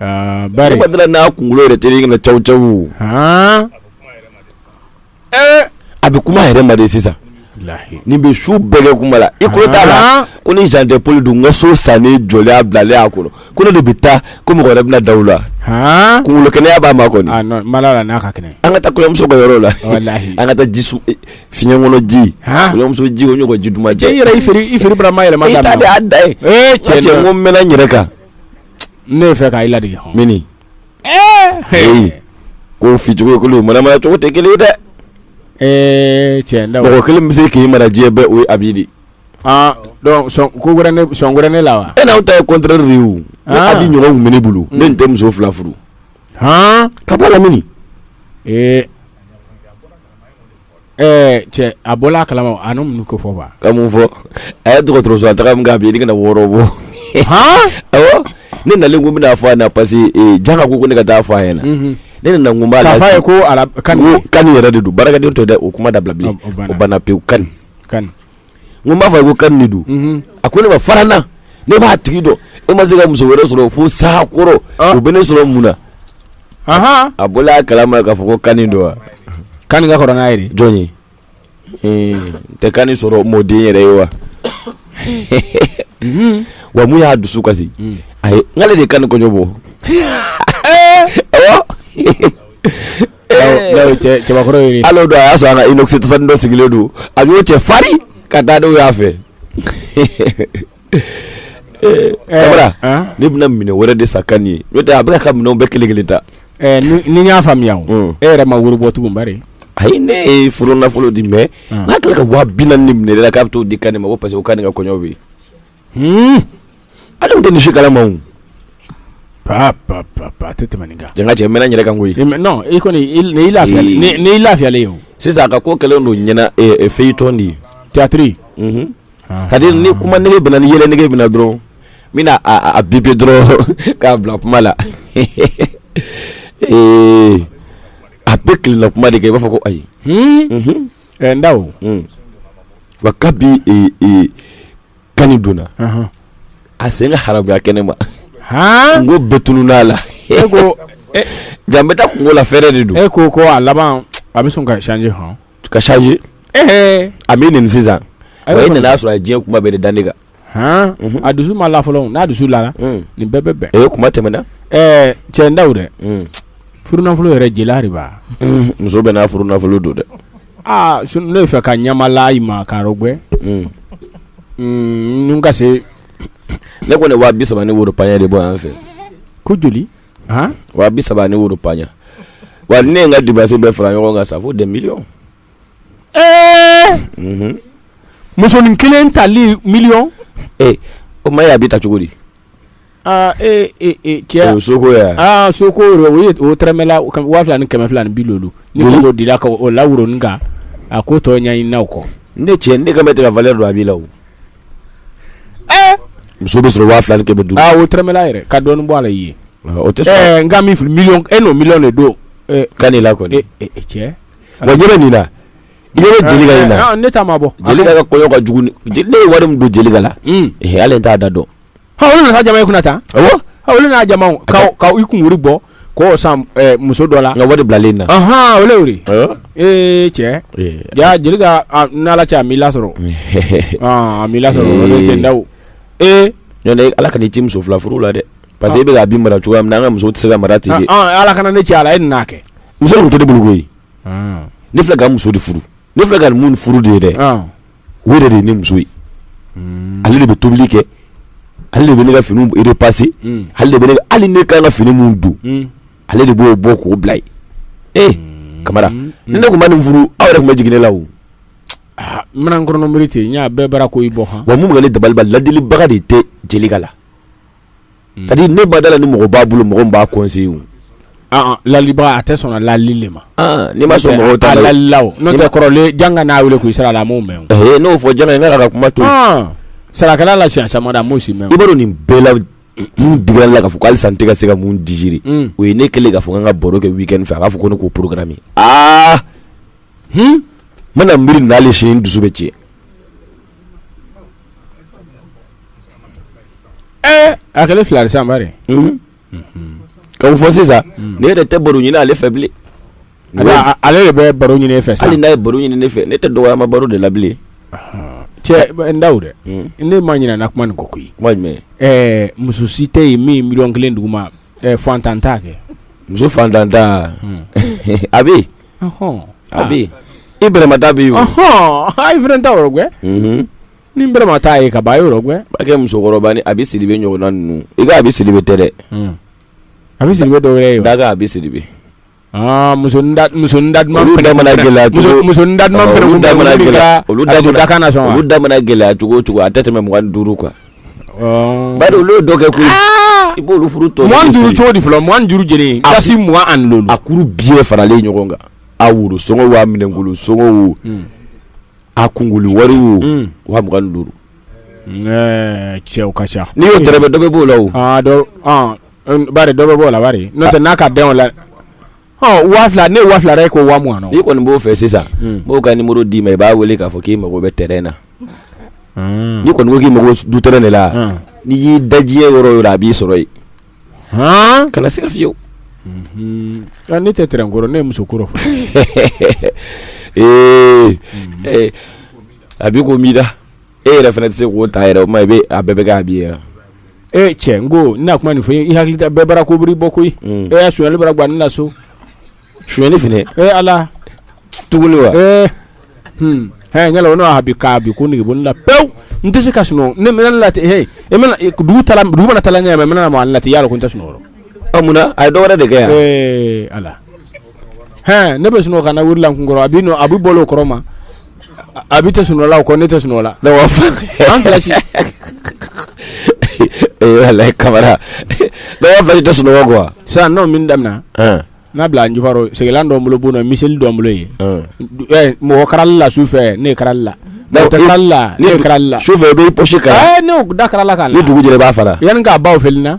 Aa ba n'a kunkolo yɛrɛ teri ka cɛw cɛw ee a bɛ kuma yɛrɛ madi sisan ni bɛ su bɛɛ kuma la i ko t'a la ko ni jan tɛoli don ka so san ni jɔnya bilalen a kɔnɔ ko ne de bɛ taa ko mɔgɔ wɛrɛ bɛna dawula kunkolo kɛnɛya b'a ma kɔni n'a ka kɛnɛ an ka taa kɔɲɔmuso ka yɔrɔ la an ka taa ji fiɲɛkɔnɔ jimuso ji o ɲɔgɔn ji dumanuma cɛ i i feere ma yɛlɛma da cɛ n ko mɛn yɛrɛ kan Ne b'a fɛ k' i laadi min ko ficogo cogo tɛ kelen dɛ ɛɛ cɛ kelen bɛ se k'i mara diɲɛ bɛɛ o ye a b'i di wɛrɛ ne la wa e n'aw ta ye contrat de ye aw bɛ ɲɔgɔn minɛ ne bolo ne tɛ muso fila furu ka bɔ lamini Ɛɛ cɛ a bɔ a kala a mun ko fɔ ka mun fɔ a ye dɔgɔtɔrɔso a taara min' bi i kana wɔɔrɔ bɔ h ne na kun bɛn'a fɔ a na parce que jan ka ko ko ne ka taa fɔ a ye na ne na kun b'a la ye ko kan yɛrɛ de don baarakɛdenw tɛ dɛ o kuma da bila o banna pewu kan kan n b'a fɔ ko Kani don a ko ne fara n na ne b'a tigi dɔn e ma se ka muso wɛrɛ sɔrɔ fo sa kɔrɔ ah. o bɛ ne sɔrɔ mun na a bɔra a kala ma k'a fɔ ko Kani don wa Kani ka kɔrɔ ni jɔn ye tɛ Kani sɔrɔ mɔden yɛrɛ ye wa mhm. wa mun y'a dusu kasi mm. a ye n'ale de Kani kɔɲɔ bɔ cɛbakɔrɔ ye al'o don a y'a sɔrɔ an ka inox tasani dɔ sigilen don a y'o cɛ fari ka taa n'o y'a fɛ kabara ne bɛna minɛn wɛrɛ de san Kani ye n'o tɛ a bɛna n ka minɛnw bɛɛ kelen kelen ta ni y'a faamuya o e yɛrɛ ma woro bɔ tugun bari ayi ne ye furu nafolo di mais n'a tila ka wa bi naani minɛ a la k'a bɛ t'o di Kani ma ko parce que o Kani ka kɔɲɔ bɛ yen Ala tɛ misi kalama pa a tɛ tɛmɛ kan jan cɛ mɛn yɛrɛ kan koyi i kɔni y'i lafiyalen o sisan a ka ko kɛlen don n ɲɛ na feuilleton de ye théâtre c'est-à-dire ni kuma nege bɛ n na ni yɛlɛ nege bɛ n na dɔrɔn n b'a bipe dɔrɔn k'a bila kuma la a bɛ kelenna kuma de kɛ i b'a fɔ ko ayi Ɛɛ Ndaw un wa kabi ee ee Kani donna anhan a sen ka haramuya kɛnɛ ma haan kungo bɛɛ tununn'a la e ko ja n bɛ taa kungo la fɛɛrɛ de don e ko ko a laban a bɛ sɔn ka changer han ka changer ɛɛ a b'i nɛni sisan a wa e nan'a sɔrɔ a ye diɲɛ kuma bɛɛ de da ne kan Hɔn a dusu ma la fɔlɔ n'a dusu lala nin bɛɛ bɛ bɛn e kuma tɛmɛna ɛɛ cɛ Ndaw dɛ furu nafolo yɛrɛ jeliya de'a muso bɛɛ n'a furu nafolo don dɛ aaa sun ne fɛ ka ɲamala ma ka gɛn n ka se ne kɔni wa bisaba ni woro paɲɛ de bɔ yan fɛ ko joli wa bisaba ni woro paɲɛ wa ne n ka dépense bɛɛ fara ɲɔgɔn kan ça fait deux millions Ɛɛ musonin kelen tali miliyɔn ma a bɛ ta cogo di cɛ so so omɛla waa ni kɛmɛ fila ni bi duuru di o la woronin kan a ko tɔ ɲɛɲini n'aw kɔ ne cɛ ne bɛ tigɛ vlɛ don a b'i la muso bɛ sɔrɔ waa fila ni kɛmɛ bi duuru omɛla yɛrɛ ka dɔn bɔ ala ye o tɛ mi e n'o mi de don ka la kɔni cɛ Wa ɲɛ bɛ nin na i ɲɛ bɛ Jelika in na aa ne ta ma bɔ Jelika ka kɔɲɔ ka jugu ni Jeli ne ye wari min don Jelika la unn ehe hali n t'a da dɔn ɔ olu nana jama i kunna tan awɔ ɔ olu nana jama o ka o ka i kuŋuru bɔ k'o san ɛ muso dɔ la ŋa wari bilalen na ɔnhɔɔn o le y'o de ye ɔɔ ee cɛ ee jaa Jelika a n Ala cɛ a m'i lasɔrɔ o ɔɔn a m'i lasɔrɔ o don cɛ Ndaw ee ɲɔndɛɛ Ala k'an kisi muso 2 furu la dɛ Parce que e bɛ k'Abi mara cogoya min na an ka muso tɛ se ka mara ten, Ala kana ne ci a la e ni n'a kɛ, muso tun tɛ ne bolo koyi, ɔn, ne filɛ ka n muso de furu, ne filɛ ka nin min furu de ye dɛ, ɔn, o yɛrɛ de ye ne muso ye, un, ale de bɛ tobili kɛ, ale de bɛ ne ka finiw repasser un, ale de bɛ ne ka hali ne ka kan ka fini minnu don, un, ale de b'o bɔ k'o bila yen, e Kamara ni ne tun ma nin furu aw yɛrɛ tun bɛ jigin ne la o, aa, n bɛna n kɔnɔnanbiri ten n y'a bɛɛ bara ko y'i bɔ han, wa mun bɛ ka ne dabali ban ladilibaga de tɛ Jelika la c'est à dire ne ma d'a la ni mɔgɔ b'a bolo mɔgɔ min b'a conseiller o ɔn ladilibaga a tɛ sɔn a ladili de ma, aa n'i ma sɔn mɔgɔw ta la, a ladila o, n'o tɛ kɔrɔlen jan ka n'a wele k'i sara a la a m'o mɛn o, ee n'o fɔ jan ka n k'a ka kuma to yen, ɔn sarakala la siɲɛ caman dɛ a m'o si mɛn o, i b'a dɔn nin bɛɛ la mun digila ne la k'a fɔ ko halisa n tɛ ka se ka mun digérer un, o ye ne kɛlen k'a fɔ k'an ka baro kɛ week-end fɛ a k'a fɔ ko ne k'o programmer aa hun, n mana miiri nin na hali sini n dusu bɛ ci Ɛɛ a kɛlen filɛ sababu ye k'a fɔ sisan ne yɛrɛ tɛ baro ɲini ale fɛ bilen ale de bɛ baro ɲini ne fɛ sa n'a ye baro ɲini ne fɛ ne tɛ dɔgɔ ma baro de la bilen cɛ n da dɛ ne ma ɲina a kuma nin kɔ koyi muso si tɛ yen min miliyɔn kelen duguma Fantan ta kɛ muso fantan ta a bɛ a bɛ i bɛrɛma ta bɛ yen a ye fana ta yɔrɔ gɛn n'i bɛrɛma ta ye ka ba yɔrɔ gɛn a kɛ musokɔrɔba a bɛ siri bɛ ɲɔgɔn na ninnu i' a bɛ siri bɛ tɛ dɛ a bɛ siri dɔw ye ba a bɛ siri Aa muso da mana gɛlɛya cogo o cogo a tɛ tɛmɛ mugan duuru kan ba olu dɔ kɛ koyi i b'olu furu tan ni duuru cogo de fɔlɔ mugan duuru lajɛlen kasi mugan ani duuru a kuru bɛɛ faralen ɲɔgɔn kan a woro sɔngɔ wo a minɛnkolon sɔngɔ wo a kunkoli wari wo waa mugan duuru cɛ ka ca n'i y'o tɛrɛmɛ dɔ bɛ bɔ o la Bari dɔ bɛ bɔ o la bari n'o tɛ n'a ka dan o la ɔ waa fila ne ye waa fila da e ko waa mugan na o n'i kɔni b'o fɛ sisan n b'o ka numéro d'i ma i b'a wele k'a fɔ k'i mago bɛ terrain na n'i kɔni ko k'i mago bɛ du terrain de la n'i y'i da diɲɛ yɔrɔ o yɔrɔ a b'i sɔrɔ yen kana siga fiyewu ne tɛ terrain ko dɔn ne ye muso ko de fɔ ee Abi ko n b'i da e yɛrɛ fana tɛ se k'o ta yɛrɛ o ma i bɛ a bɛɛ bɛ k'Abi ye wa ee cɛ n ko n'a kuma nin fɔ i hakili tɛ bɛɛ bara kobri bɔ koyi e y'a sonyali bara gan ne na so sonyali fana ee ala tuguni wa ee hɛ n o n'Abi k'Abi ko nege bɔ ne la pewu n tɛ se ka sunɔgɔ ne mɛna lati he e mana dugu taa dugu mana taa jɛ mɛ mɛna ma lati y'a ko n tɛ sunɔgɔ munna a ye dɔwɛrɛ de kɛ yan ee ala h ne bɛ sunɔgɔ ka na wari la n kun kɔrɔ a bɛ a bɛ bɔ o kɔrɔ ma Abi tɛ sunɔgɔ la o ko ne tɛ sunɔgɔ la kamara tɛ sunɔgɔ kuwa sisan n'o min daminɛ n'a bila a jufa rɔ sɛgɛlɛn dɔ bolo bon na miseli dɔ bolo ye mɔgɔ kara la su fɛ ne kara la la la su fɛ i bɛ si da la ka dugu jɛra b'a fara yanani k'a baw fɛ na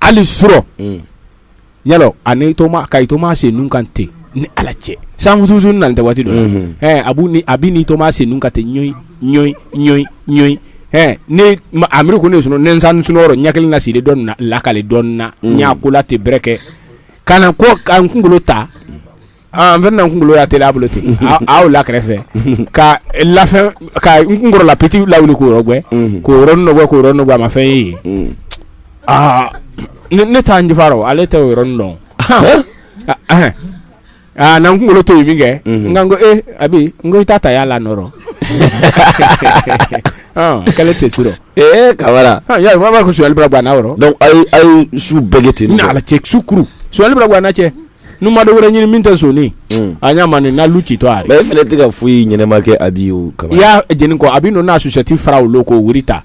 Ali su rɔ ya ani ka i toma sen n kan ten ni ala cɛ san na n tɛ waati dɔn a Abi ni toma sen n kan ten ɲɔ ɲɔ ɲɔ n'a miiri ko ne sun n san sun ɲɛ kelen na siri dɔ lakale dɔn na n y'a kola tɛ bɛrɛ kɛ ka na ka n kunkolo ta An fɛn na n kunkolo y'a teli a bolo ten a y'o la kɛrɛfɛ ka n kunkɔrɔla piti lawuli k'o rɔgɛ k'o yɔrɔnin dɔgɛ k'o yɔrɔnin dɔgɛ a ma fɛn ye yen, aa ne t'a ɲɛf'a la wo, ale tɛ o yɔrɔnin dɔn, anhan, ɛhɛn, aa na n kunkolo to yen min kɛ, n kan ko ee Abi n ko i ta ta y'a la nɔ rɔ, ɔn a kɛlen ten su rɔ, ee kabaara, ɔ yali mɔgɔ b'a fɔ ko sonyali bɛ ka bɔ a na wa? donc a ye su bɛɛ kɛ ten, n'Ala cɛ su kuru sonyali bɛ ka bɔ a na cɛ n'u ma dɔ wɛrɛ ɲini min tɛ soni hmm. a y'a ma nin n'a lu ci to a ye. mais e fana tɛ ka foyi ɲɛnama kɛ Abi o kama. i y'a jeni kɔ Abi nɔ n'a susɛti fara o lo k'o wari ta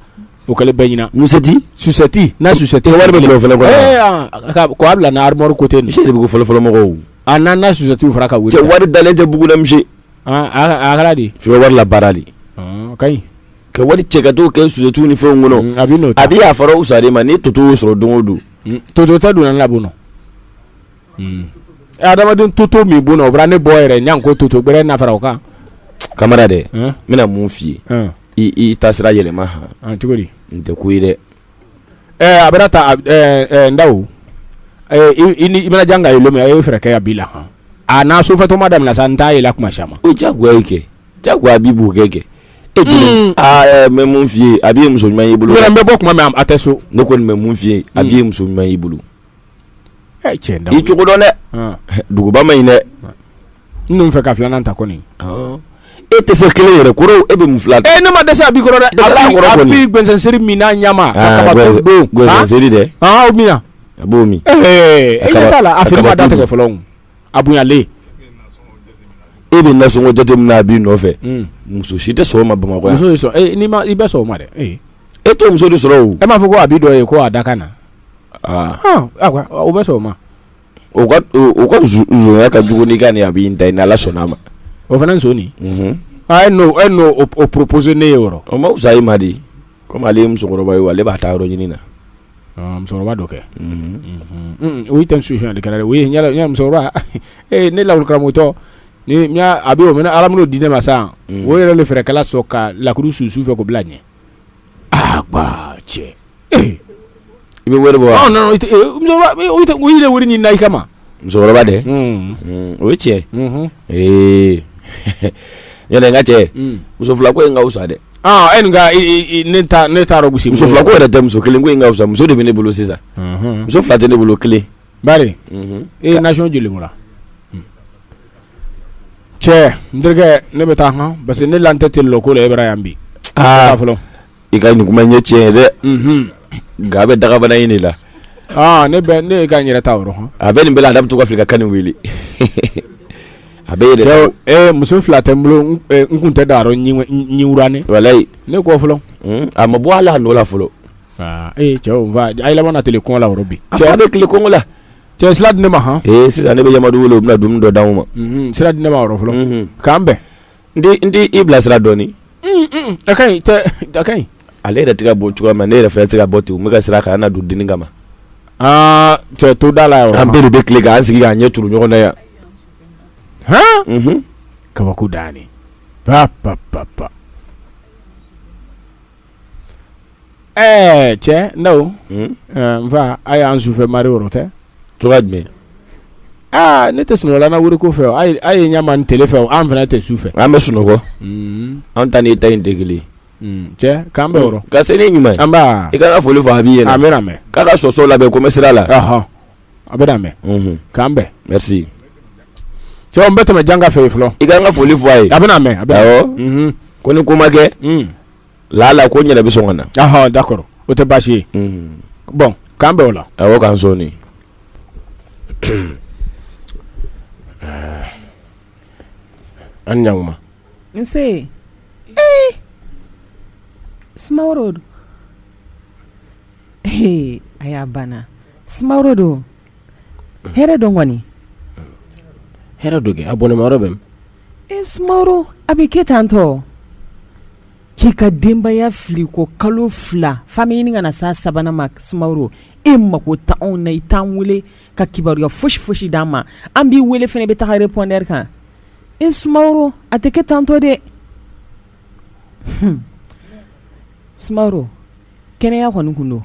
o kɛlen bɛɛ ɲina. musɛti. susɛti n'a susɛti. o wari bɛ bila o fana kɔnɔ. ɛɛ ka kɔ a bila na armoire côté nin. misi de bɛ ko fɔlɔfɔlɔ mɔgɔw. a n'a n'a susɛti fara ka wari. cɛ wari dalen tɛ bugu la misi. Ah, a a kɛra de. f'i bɛ wari labaara de. Ah, ka ɲi. ka wari cɛ ka t'o kɛ susɛtiw ni fɛnw kɔnɔ. Mm, Abi n'o ta Abi y'a fara o sari ma ni toto y'o sɔrɔ don o don. Mm, toto ta donna ne la bon nɔ. adamadamaden toto min bolo o ne bɔ yɛrɛ ɲ ko toto gɛrɛ nara o kan kamara dɛ n bɛna mun f'i ye i ta sira yɛlɛma h cogo n tɛ ko ye dɛ a bɛ taa n da i bɛna jan ka ye min a y'o fɛɛrɛ kɛ yan bi la hɔn a n'a sofɛtɔma da sa n t' yɛlɛ kuma sa ma o ja kɛ ja Abi b'o kɛ kɛ e hmm. n bɛ mun f'i ye Abi muso ɲuman y'i bolo bɛ bɔ tuma min a tɛ so ne kɔni bɛ mun f'i ye Abi muso ɲuman y'i bolo i cogo dɔn dɛ duguba ma ɲi dɛ fɛ ka filan ta kɔni e tɛ se kelen yɛrɛ kɔrɔ e bɛ mun fila ne ma dɛsɛ Abi kɔrɔ dɛsɛsiri min n'a ɲama dɛ la a fini ma da tigɛ fɔlɔ a bonyalen e bɛ nasɔngɔ jatemina Abi nɔfɛ hmm. muso si tɛ sɔn i ma bamakɔ i bɛ sɔgɔma dɛ e to muso de sɔrɔ e m'a fɔ ko Abi dɔ ye ko a da ka na o bɛ sɔn ma u kaya ka jugu ka a bɛ da ni ala sɔnna a ma o fana n'o poropoze ne ye fisa ma di komi ale musokɔrɔba ye ale b'a tayɔrɔ ɲini na musokɔrɔba dɔ kɛ o tɛ su de kɛra o musokɔrɔba ne lakaramotɔ a bɛ o mɛ ala amadu di ne ma sa o yɛrɛ de fɛɛrɛkɛla sɔrɔ ka lakuru su su fɛ k'o bila ɲɛ aa ba cɛ ee i bɛ wari bɔ wa? ɔ non i tɛ ee musokɔrɔba ee o tɛ o y'i de wari ɲini na i kama. musokɔrɔba dɛ Unhun. Mm, o ye tiɲɛ ye Unhun. ee yɔrɔ n ka cɛ Mm. muso fila ko in ka wusa dɛ aa e nin ka i i i ne ta ne taara gosi. muso fila ko yɛrɛ tɛ muso kelen ko in ka wusa muso de bɛ ne bolo sisan Unhun. muso fila tɛ ne bolo kelen bari Mhm. e ye nation joli mun la. cɛ n terikɛ ne bɛ taa han parce que ne la n tɛ tile kɔngɔ la e bara yan bi aa fɔlɔ i ka nin kuma in ye tiɲɛ ye dɛ nka a bɛ dagabana in de la aa ne bɛ ne ka n yɛrɛ ta yɔrɔ han a bɛ nin bɛɛ la a da bɛ to ka fili ka kan nin wele a bɛ yɛlɛ cɛ ee muso fila tɛ n bolo n eh, n kun tɛ tayɔrɔ ɲini na ne walayi ne kɔ fɔlɔ a ma bɔ hali a nɔ la fɔlɔ aa ee cɛ o nfa a yɛlɛma na tile kɔngɔ la yɔrɔ bi a fa bɛ tile kɔngɔ la Cɛ sira di ne ma han, ee sisan ne bɛ Yamadu wele o bɛna dumuni dɔ d'anw ma, unhun, sira di ne ma yɔrɔ fɔlɔ, unhun, k'an bɛn, n t'i n t'i bilasira dɔɔnin, un un, a ka ɲi, a ka ɲi, ale yɛrɛ tɛ ka bɔ cogoya min na ne yɛrɛ fana tɛ se ka bɔ ten, n bɛ ka siran a kana na don dimi kama, aa cɛ to d'a la, an bɛɛ de bɛ tilen k'an sigi k'an ɲɛ turu ɲɔgɔn na yan, han, unhun, kabako dan ye nin ye, papapapa Ɛɛ cɛ n n fa a y'an sufɛ mari wɔɔrɔ tɛ to jumɛn aa ne tɛ sunɔgɔla na wari ko fɛ a ye ɲa t fɛ an fana tɛ su fɛ an bɛ sunɔgɔ an tan n' ta in tɛ kelen cɛ k'an bɛ ka se ɲuman an i kana foli fɔ a b'i ye an bɛ mɛn k'a ka soso labɛn ko bɛ sira la aɔn a bɛ mɛn k'an bɛn cɛw bɛ tɛmɛ janka fɛ yen fɔlɔ i ka ka foli fɔ a ye a bɛ mɛn a ko ni komakɛ lala ko yɛrɛ bɛ sɔn ka na da kɔrɔ o tɛ baasi ye bɔn k'an bɛn o la awɔ k'an sɔɔni a ɲuman sumaworo a y'a banna sumaworo don hɛrɛ don kɔni hɛrɛ don kɛ a bɔnɛmayɔrɔ bɛ e sumaworo a bɛ kɛ tan tɔ k'i ka denbaya fili kɔ kalo fila fa bɛ ɲini ka na se sabanan ma sumaworo e mako tɛ anw na i t'an wele ka kibaruya fosi fosi d'an ma an b'i wele fana i bɛ taga répondeur kan e sumaworo a tɛ kɛ tan tɔ dɛ sumaworo Kɛnɛya kɔni tun don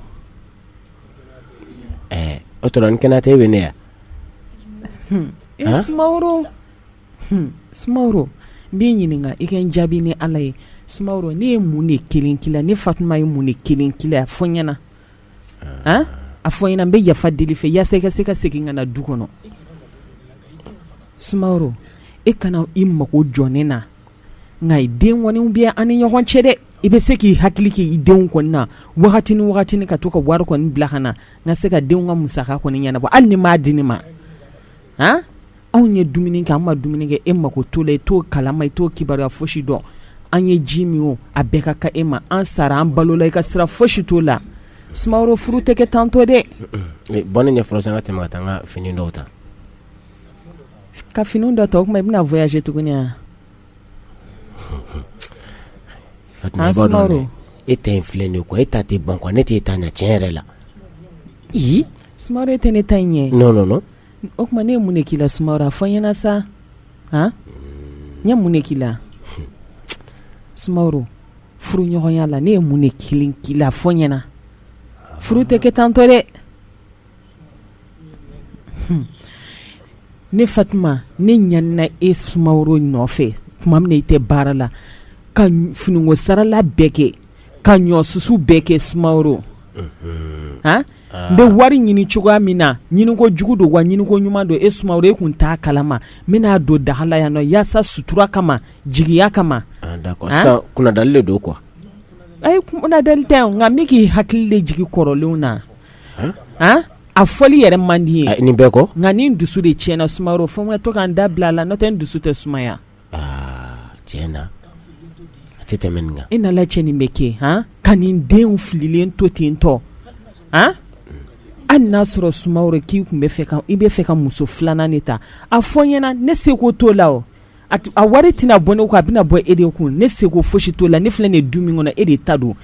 ɛɛ o tora ni kɛnɛya tɛ e bɛ ne yan sumaworo sumaworo n b'i ɲininka i ka n jaabi ni ala ye sumaworo ne ye mun de kelen k'i la ne fa tun ye mun de kelen k'i la a fɔ n ɲɛna a a fɔ n ɲɛna n bɛ yafa deli i fɛ yaa se ka se ka segin ka na du kɔnɔ sumaworo e kana i mago jɔ ne na nka i denw kɔni bɛ an ni ɲɔgɔn cɛ dɛ i bɛ se k'i hakili k' i denw kɔni na wagati ni wagati ka to ka wari kɔni bila ka na n ka se ka denw ka musaka kɔni ɲɛnabɔ hali n'i m'a di ne ma a anw ye dumuni kɛ an ma dumuni kɛ e mako t'o la i t'o kalama i t'o kibaruya foyisi dɔn an ye ji min o a bɛɛ ka kan e ma an sara an balola i ka sira foyisi t'o la sumaworo furu tɛ kɛ tan tɔ dɛ bɔ ne ɲɛfɛ sa n ka tɛmɛ ka taa n ka fini dɔw ta ka fini dɔ ta o tuma i bɛna fɔ yan se tuguni yan e ta in filɛ dɛ kuwa e ta tɛ ban kuwa ne tɛ ta ɲɛ tiɲɛ yɛrɛ la sumaworo e tɛ ne ta ɲɛ nɔɔnɔ o tuma ne ye mun de k'i la sumaworo a fɔ n ɲɛna sa hɔn n ye mun de k'i la sumaworo furuɲɔgɔnya la ne ye mun de kelen k'i la a fɔ n ɲɛna furu tɛ kɛ tan tɔ dɛ Ne fa ne nana e sumaworo nɔfɛ tuma min i tɛ baara la ka finiko sarala bɛɛ kɛ ka ɲɔ susu bɛɛ kɛ sumaworo a n bɛ wari ɲini cogoya min na ɲininko jugu don wa ɲininko ɲuman don e sumaworo e tun t'a kalama n bɛ na a don daga la yan nɔ walasa sutura kama jigiya kama kundalen don kuwa a ye kunda tɛ nka n k'i hakili de jigin kɔrɔlenw na a fɔli yɛrɛ man di n ye nin bɛɛ kɔ nka ne dusu de tiɲɛna sumaworo fo n ka to ka n da bila a la n'o tɛ n dusu tɛ sumaya tiɲɛ na a tɛ tɛmɛ nin kan e na cɛ nin bɛɛ kɛ ka n ni denw fililen to ten tɔ hali n'a sɔrɔ sumaworo k'i tun bɛ fɛ i bɛ fɛ ka muso filanan de ta a fɔ n ɲɛna ne seko t'o la o a wari tɛna bɔ ne kun a bɛna bɔ e de kun ne seko foyisi t'o la ne filɛ nin du min kɔnɔ e de ta don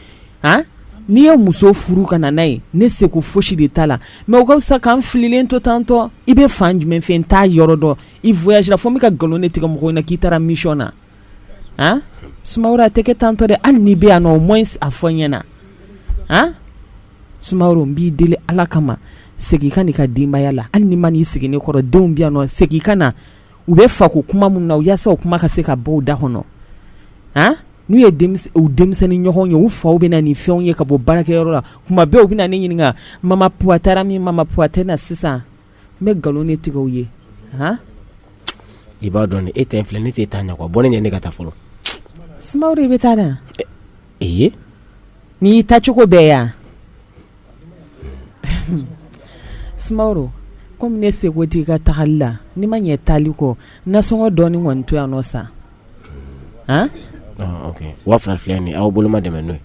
a n'i ye muso furu ka na n'a ye ne seko foyisi de t'a la mɛ okaw sa k'an fililen to tan tɔ i bɛ fan jumɛn fɛ n t'a yɔrɔ dɔn i vyasira fo n bɛ ka nkalon de tigɛ mɔgɔw ɲɛna k'i taara miy na a sumaworo a tɛ kɛ tan tɔ dɛ hali n'i bɛ yan nɔ mɔ a fɔ n ɲɛna a sumaworo n b'i deli ala kama segin ka na i ka denbaya la hali n'i ma na i sigi ne kɔrɔ denw bɛ yan nɔ segin ka na u bɛ fa ko kuma min na u yaasa o kuma ka se ka bɔ u da kɔnɔ a n'u ye u denmisɛnnin ɲɔgɔn ye u faw bɛ na ni fɛnw ye ka bɔ baarakɛyɔrɔ la kuma bɛɛ u bɛ na ne ɲininka mama papa taara min mama papa tɛ na sisan n bɛ nkalon de tigɛ u ye h i b'a dɔn e tɛ filɛ ne tɛ taa ɲɛ bɔ ne ɲɛ ne ka taa fɔlɔ sumaworo i bɛ taa da ee n'i y'i tacogo bɛɛ yan Sumaworo kɔmi ne seko tɛ i ka tagali la n'i ma ɲɛ taali kɔ nasɔngɔ dɔɔnin kɔni to yan nɔ sa an waa fila filɛ nin ye aw bolomadɛmɛ n'o ye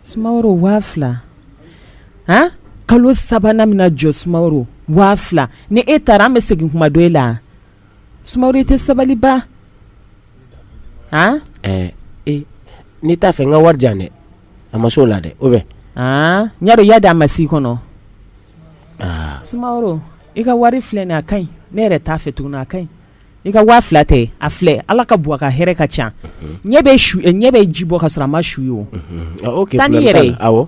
Sumaworo waa fila an kalo sabanan bɛna jɔ Sumaworo waa fila ni e taara an b'e segin kuma dɔn e la wa Sumaworo i tɛ sabali ba an ɛɛ e n'i t'a fɛ n ka wari di yan dɛ a ma se o la dɛ o aa n y'a dɔn i y'a di a ma si kɔnɔ aa sumaworo i ka wari filɛ nin ye a ka ɲi ne yɛrɛ t'a fɛ tuguni a ka ɲi i ka waa fila tɛ a filɛ ala ka bon a ka hɛrɛ ka ca ɲɛ bɛ su eh, ɲɛ bɛ ji bɔ ka sɔrɔ a ma su ye o taa n'i yɛrɛ ye awɔ